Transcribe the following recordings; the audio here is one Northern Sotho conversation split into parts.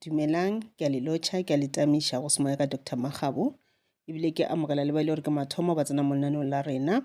Dumelang, ke a le lotšha, ke a le tamiša go semoya ka Doctor Makgabo, ebile ke amogela le ba e le gore ke mathomo ba tsena mo lenaneong la rena.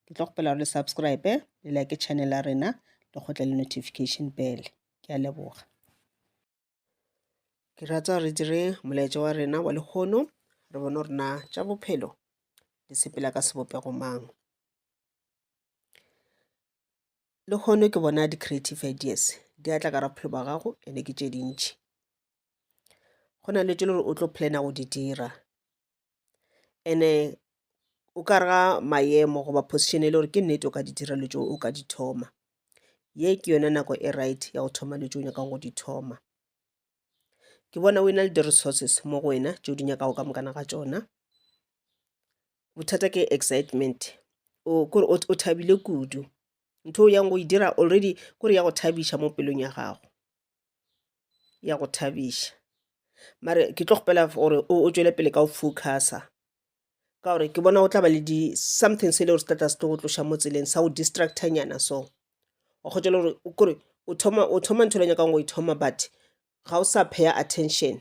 Ke tlo kgopela gore le subscribe, le like channel ya rena, le kgotle le notification bell. Ke a leboga. Ke rata re dire molaetša wa rena wa lehono, re bone gore na tša bophelo di sepela ka sebopego mang. le hono ke bona di creative ideas di atla ka ra bophelo ba gago ene ke tše dintšhi go na le tše le gore o tlo plana go di dira ene o ka rega maemo goba position e le gore ke nnete o ka di dira le tšeo o ka di thoma ye ke yone nako e right ya go thoma le tšeo nyakang go di thoma ke bona o e na le di-resources mo go wena tšeo di nyakago ka mokana ga tšona bothata ke excitement o kore o o thabile kudu ntho o yang go e dira already kore ya go thabiša mo pelong ya gago ya go thabiša mare ke tlo kgopela gore o o tšwele pele ka go focusa ka gore ke bona o tla ba le di something se e le gore se tlatla se tlo go tloša mo tseleng sa go distractor nyana so wa kgotsa le gore o kore o thoma o thoma ntho le nyakang go e thoma but ga o sa pheya attention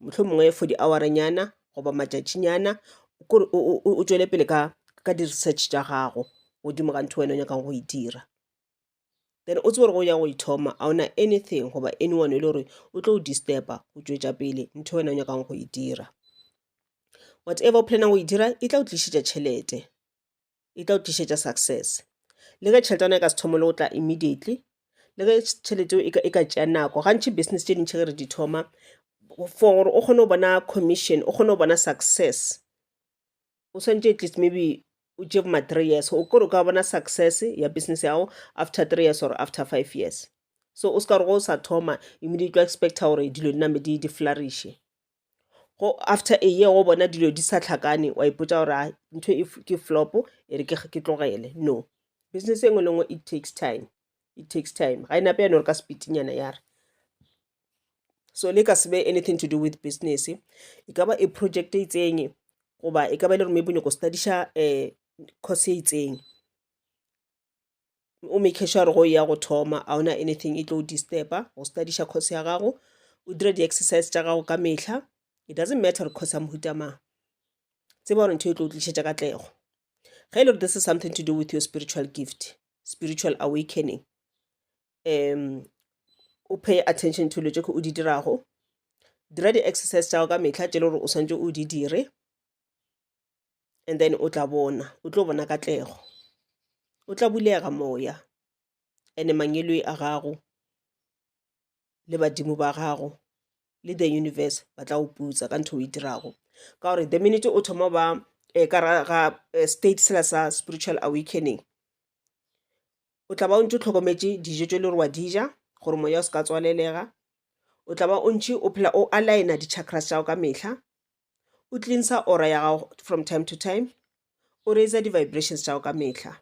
mohlomongwe for di-hour-ranyana goba matšatšinyana kore o tšwele pele ka ka di-research tša gago godimo ga ntho wena o nyakang go e dira then o tsebe gore go ya go ithoma ga ona anything goba anyone e le gore o tlo disturba go tšwetša pele ntho wena o nyakang go e dira whatever o planang go e dira e tla o tlišitša tšhelete e tla o tlišetša success le ge tšhelete ya ona e ka se thome le go tla immediately le ge tšhelete eo e ka tšea nako gantši business tše dintšhi ge re di thoma for gore o kgone go bona commission o kgone go bona success o swanetše at least maybe o tšee boma three years o kore o ka bona success ya business yago after three years or after five years so o se ka gore go o sa thoma immediately o expecta gore dilo di name di di flouriše go after a year wa bona dilo di sa hlakane wa ipotsa gore a ntho e ke flop e re ke tlogele no business engwe le ngwe it takes time it takes time ga e nape yane gore ka sepitinyana ya re so le ka se be anything to do with business e ka ba e project e itseng goba e ka ba e le gore maybe o nyako studiša um course e itseng o make sure gore go ya go thoma a ona anything e tlo disturba go studiša course ya gago o dira di-exercise tša gago ka mehla it doesn't matter gore course ya mohuta mang tseba gore ntho e tlo o tlišetša ka tlego ge e le gore this is something to do with your spiritual gift spiritual awakening um o pay attention to lo tše o di dirago dira di-exercise tša gago ka mehla tše le gore o swantse o di dire and then o tla bona o tlo bona katlego o tla bulega moya ene mangeloi a gago le badimo ba gago le the universe ba tla o putsa ka ntho o e dirago ka gore the minute o thoma ba um ka ga eh, state sela sa spiritual awakening o tla ba o ntse o tlhokometse dijo tse le gore wa di ja gore moya o se ka tswalelega o tla ba o ntse o phela o aligna di-chakras tša go ka mehla o cleansa ora ya gago from time to time o raise di-vibrations tša go ka mehla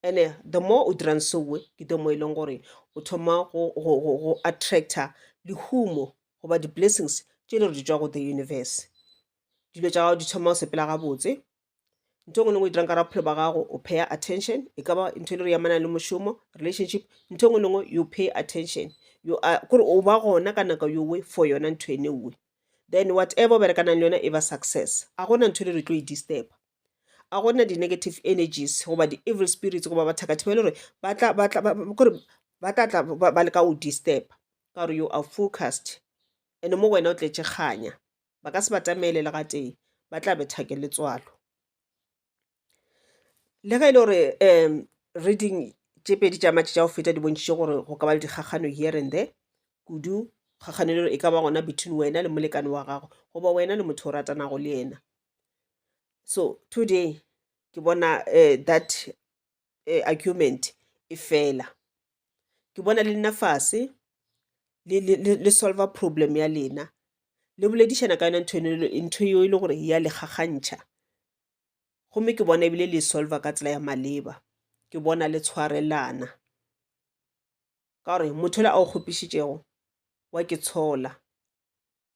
ene the more o dirang soe ke the more e leng gore o thoma go attractor lehumo goba di-blessings tše le re di tswa go the universe dilo tša gago di thoma go sepela gabotse ntho ngwe le ngwe dirang ka raphelo ba gago o pay attention e ka ba ntho e le re yamanang le mošomo relationship ntho ngwe le ngwe you pay attention you are kore o ba gona ka nako yowe for yona ntho ene uwe then whatever o berekanang le yona e ba success a gona ntho e le re tlo e disturb a gona di-negative energies goba di-evil spirits goba bathakathe ba e le gore kore ba tla tla ba leka o disturb ka gore you are focused and mo go wena o tletse kganya ba ka se batamele le gatee ba tla betha ke letswalo le ge e le gore um reading tše pedi tša matšhe tša go feta di bontšhitše gore go ka ba le dikgakgano here and there kudu kgakgano e le gore e ka ba gona between wena le molekane wa gago goba wena le motho o ratanago le yena so today ke bona um that eh, argument e fela ke bona le nna fase le, le, le, le solver problem ya lena le boledišana ka yona ntho eno- ntho eo e le gore ya le gagantšha gomme ke bona ebile le e solver ka tsela ya maleba ke bona le tshwarelana ka gore motho le a o kgopišitšego wa ke tshola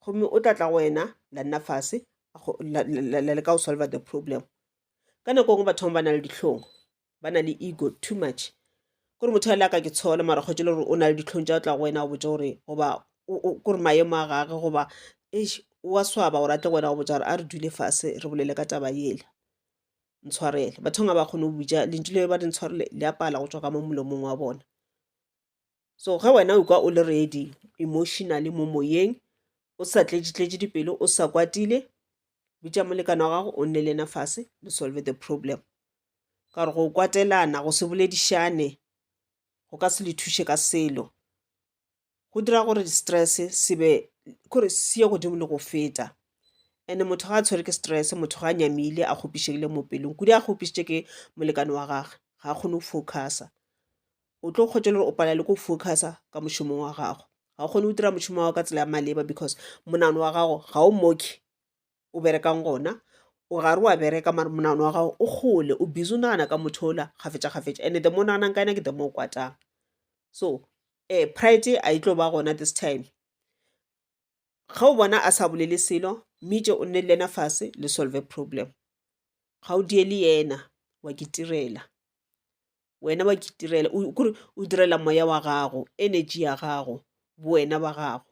gomme o tla tla go wena la nna fase la leka go solver the problem ka nako ngwe batho ba na le ditlhong ba na le ego too much kore motho a le a ka ke tshola mara kgwetse le gore o na le ditlhong tša o tla go wena go botsa gore goba kore maemo a gage goba wa swaba gore a tle go wena go botsa gore a re dule fase re bolele ka taba yela ntshwarele batho nga ba kgone go buja lentšu le ba di ntshwarele le a pala go tswa ka mo molomong wa bona so ge wena o ka o le ready emotionally mo moyeng o sa tletšetletše dipelo o sa kwatile bitša molekane wa gago o nne le ena fase le solve the problem ka gore go kwatelana go se boledišane go ka se le thuše ka selo go dira gore stress se be kore se ye godimo le go feta and motho ga a tshwere ke stress motho ga a nyamile a kgopišegile mo pelong kudu a kgopišitše ke molekane wa gage ga a kgone go focusa o tlo kgwetša gore o pala le ko focusa ka mošomong wa gago ga o kgone go dira mošomo wa ka tsela ya maleba because monano wa gago ga o moke o berekang gona o gare wa bereka mare monagano wa gago o kgole o busy o nagana ka motho ola kgafetšakgafetša and the more o naganang ka ena ke the more o kwatang so um pride a e tlo ba gona this time ge o bona a sa bolele selo mmitše o nne le ena fase le solve problem ga o die le yena wa ke tirela wena wa ke tirela kore o direla moya wa gago energy ya gago bo wena ba gago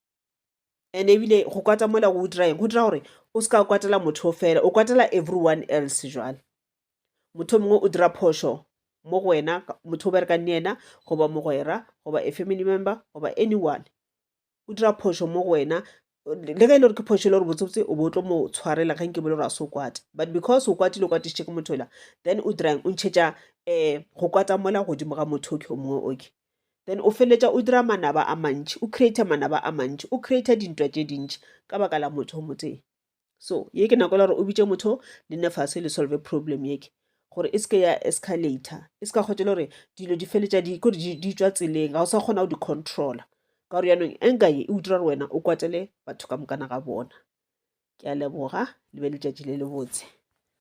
and ebile go kwata mola go dira eng go dira gore o se ka kwatela motho o fela o kwatela everyone else jwale motho mongwe o dira phoso mo go wena motho o berekang le yena goba mogwera goba a family member goba anyone o dira phoso mo go wena le ge e le gore ke phoso e le gore botsebotse o bo tlo mo tshwarela ge nke bole gore a se o kwate but because o kwatile o kwatišitše ke motho ela then o dirang o ntšhetša um go kwata mola godimo ga motho oke o mongwe oke Then o feletša o dira manaba a mantši, o creator manaba a mantši, o creator dintwa tše dintši ka baka la motho o motee. So ye ke nako la gore o bitše motho le nne fase le solve problem yeke gore e seke ya escalator, e seka kgwetša le gore dilo di feletša di kore di tswa tseleng ga o sa kgona go di controla ka gore yanong enka ye e o dira gore wena o kwatele batho ka mokana ga bona ke a leboga le be letšatši le le botse